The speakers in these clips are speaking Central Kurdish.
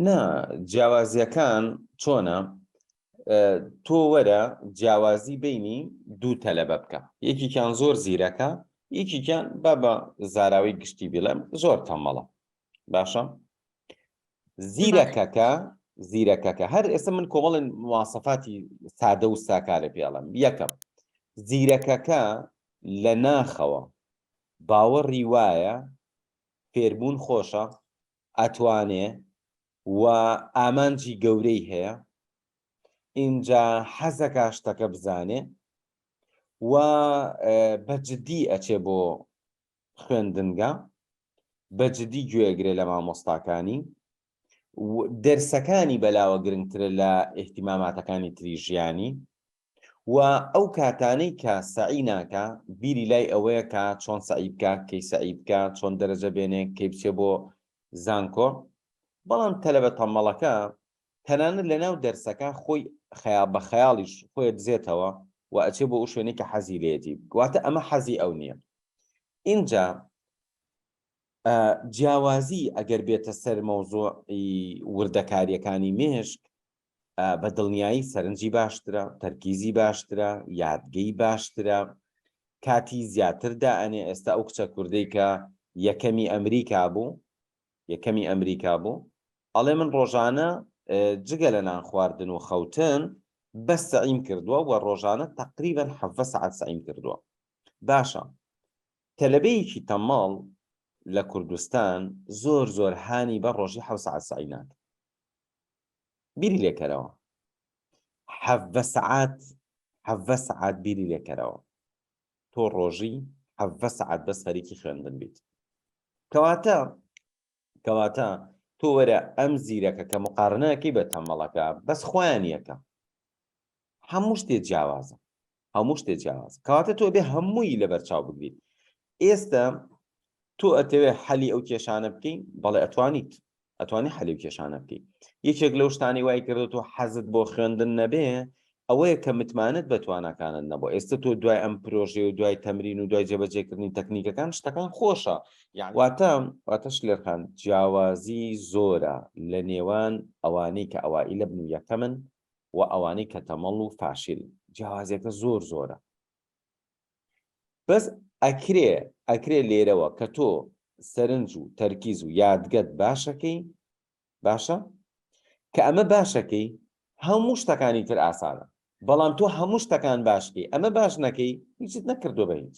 نا جیاوازیەکان چۆنە تۆ وەرە جیاوازی بینی دوو تەلەبە بکە یەکیان زۆر زیرەکە یەکیان با بە زاراوی گشتی بڵێم زۆر تەمەڵە باشە زیرەکەکە زیرەکەکە هەر ئێستا من کۆمەڵن مواسەفاتی سادە و ساکارە پێڵم یەکەم زیرەکەکە لە ناخەوە باوەڕی وایە فێربوون خۆشە ئەتوانێ و ئامانجی گەورەی هەیە ئینجا حەزەکا شتەکە بزانێ و بە جددی ئەچێ بۆ خوێندنگە بە جددی گوێگرێ لە مامۆستاکانی دەرسەکانی بەلاوە گرنگترە لە ئیحتیماماتەکانی تری ژیانی و ئەو کاتانەی کە سەعی ناکا بیری لای ئەوەیە کە چۆن سەعی بکا کەی سەعی بکا چۆن دەرەجە بێنێ کەی بچێ بۆ زانکۆ بەڵام تەلەبە تەمەڵەکە تەنانەت لە ناو دەرسەکە خۆی خەیا بە خەیاڵیش خۆی دزێتەوە و ئەچێ بۆ ئەو شوێنەی کە حەزی لێتی واتە ئەمە حەزی ئەو نییە ئینجا جیاوازی ئەگەر بێتە سەر مەوزۆعی وردەکاریەکانی مێشک بە دڵنیایی سەرنجی باشترە، تەرکیزی باشترە، یادگەی باشترە، کاتی زیاتر دائەنێ، ئێستا ئەو کچە کوردەی کە یەکەمی ئەمریکا بوو، یەکەمی ئەمریکا بوو، ئەڵێ من ڕۆژانە جگە لە نان خواردن و خەوتن بەس سەعیم کردووە و ڕۆژانە تەقریبەن حەڤە سەعات سەعیم کردووە. باشە تەلەبەیەکی تەماڵ لە کوردستان زۆر زۆر هانی بە ڕۆژی حەو سەعات سەعی ناکە. بیری لێکەرەوە حەڤە سەعات حەڤە سەعات بیری لێکەرەوە تۆ ڕۆژی حەڤە سەعات بەس خەریکی خوێندن بیت کەواتە کەواتە تۆ وەرە ئەم زیرەکە کە مقارنەکەی بە تەمەڵەکە بەس خۆیان یەکە هەموو شتێ جیاوازە هەموو شتێ جیاواز کەواتە تۆ بێ هەمووی لەبەر چاو بگریت ئێستا تۆ ئەتەوێ حەلی ئەو کێشانە بکەین بەڵێ ئەتوانیت ئەتوانی حەلی و کێشانە بکەیت یەکێک لەو شتانی وای کردێت و حەزت بۆ خوێندن نەبێ ئەوەیە کە متمانت بە توانەکانت نەبوو ئێستا تۆ دوای ئەم پرۆژێ و دوای تەمرین و دوای جێبەجێکردنی تەکنیکەکان شتەکان خۆشە یاواتە واتەش لێرخان جیاوازی زۆرە لە نێوان ئەوانەی کە ئەوائیلە بن و یەکەمن و ئەوانەی کە تەمەڵ و فاشیلن جیاوازیەکە زۆر زۆرە بەس ئەکرێ ئەکرێ لێرەوە کە تۆ سەرنج و تەرکیز و یادگەت باشەکەی باشە کە ئەمە باشەکەی هەموو شتەکانی تر ئاسانە بەڵام تۆ هەموو شتەکان باشکەی ئەمە باش نەکەی هیچت نەکردو بە هیچ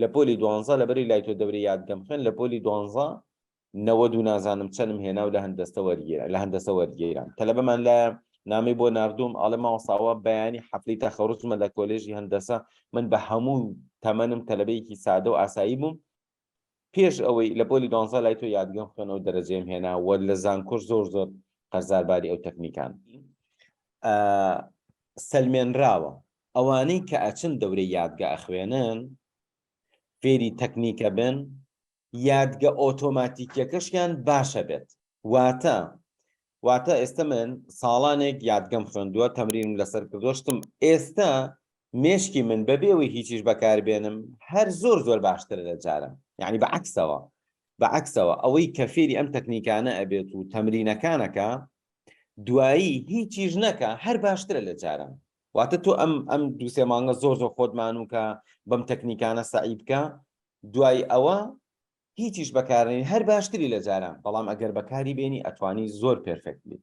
لە پۆلی دوانزە لەبەری لای تۆ دەورە یاد گەم خوێن لە پۆلی دوانزە نەوەد و نازانم چەنم هێنا و لە هەندەستە وەرگێرا لە هەندەسە وەرگێران تەلەبەمان لە نامی بۆ نردوم ئاڵێ ماوەساوە بەیانی حەفلی تەخەڕزمە لە کۆلێژی هەندەسە من بە هەموو تەمەنم تەلەبەیەکی سادە و ئاسایی بووم پێش ئەوەی لە پۆلی دۆنزە لای تۆ یادگەم خوێنەوە دەرەجەم هێنا وە لە زانکۆش زۆر زۆر قەرزارباری ئەو تەکنیکان سەلمێنراوە ئەوانەی کە ئەچن دەورەی یادگە ئەخوێنن فێری تەکنیکە بن یادگە ئۆتۆماتیکیەکەشیان باشە بێت واتە واتە ئێستە من ساڵانێک یادگەم خوێندووە تەمرینم لەسەر کردووە شتم ئێستە مێشکی من بەبێەوەی هیچیش بەکاربێنم هەر زۆر زۆر باشترە لە جارم یعنی بە عکسەوە بە عکسەوە ئەوەی کە فێری ئەم تەکنیکانە ئەبێت و تەمرینەکانەکە دوایی هیچیش نەکە هەر باشترە لە جارم واتە تۆ ئەم ئەم دوو سێ مانگە زۆر زۆر خۆت مانوو کە بەم تەکنیکانە سەعی بکە دوای ئەوە هیچیش بەکارنی هەر باشتری لە جاران بەڵام ئەگەر بەکاری بێنی ئەتوانی زۆر پێرفێکت بیت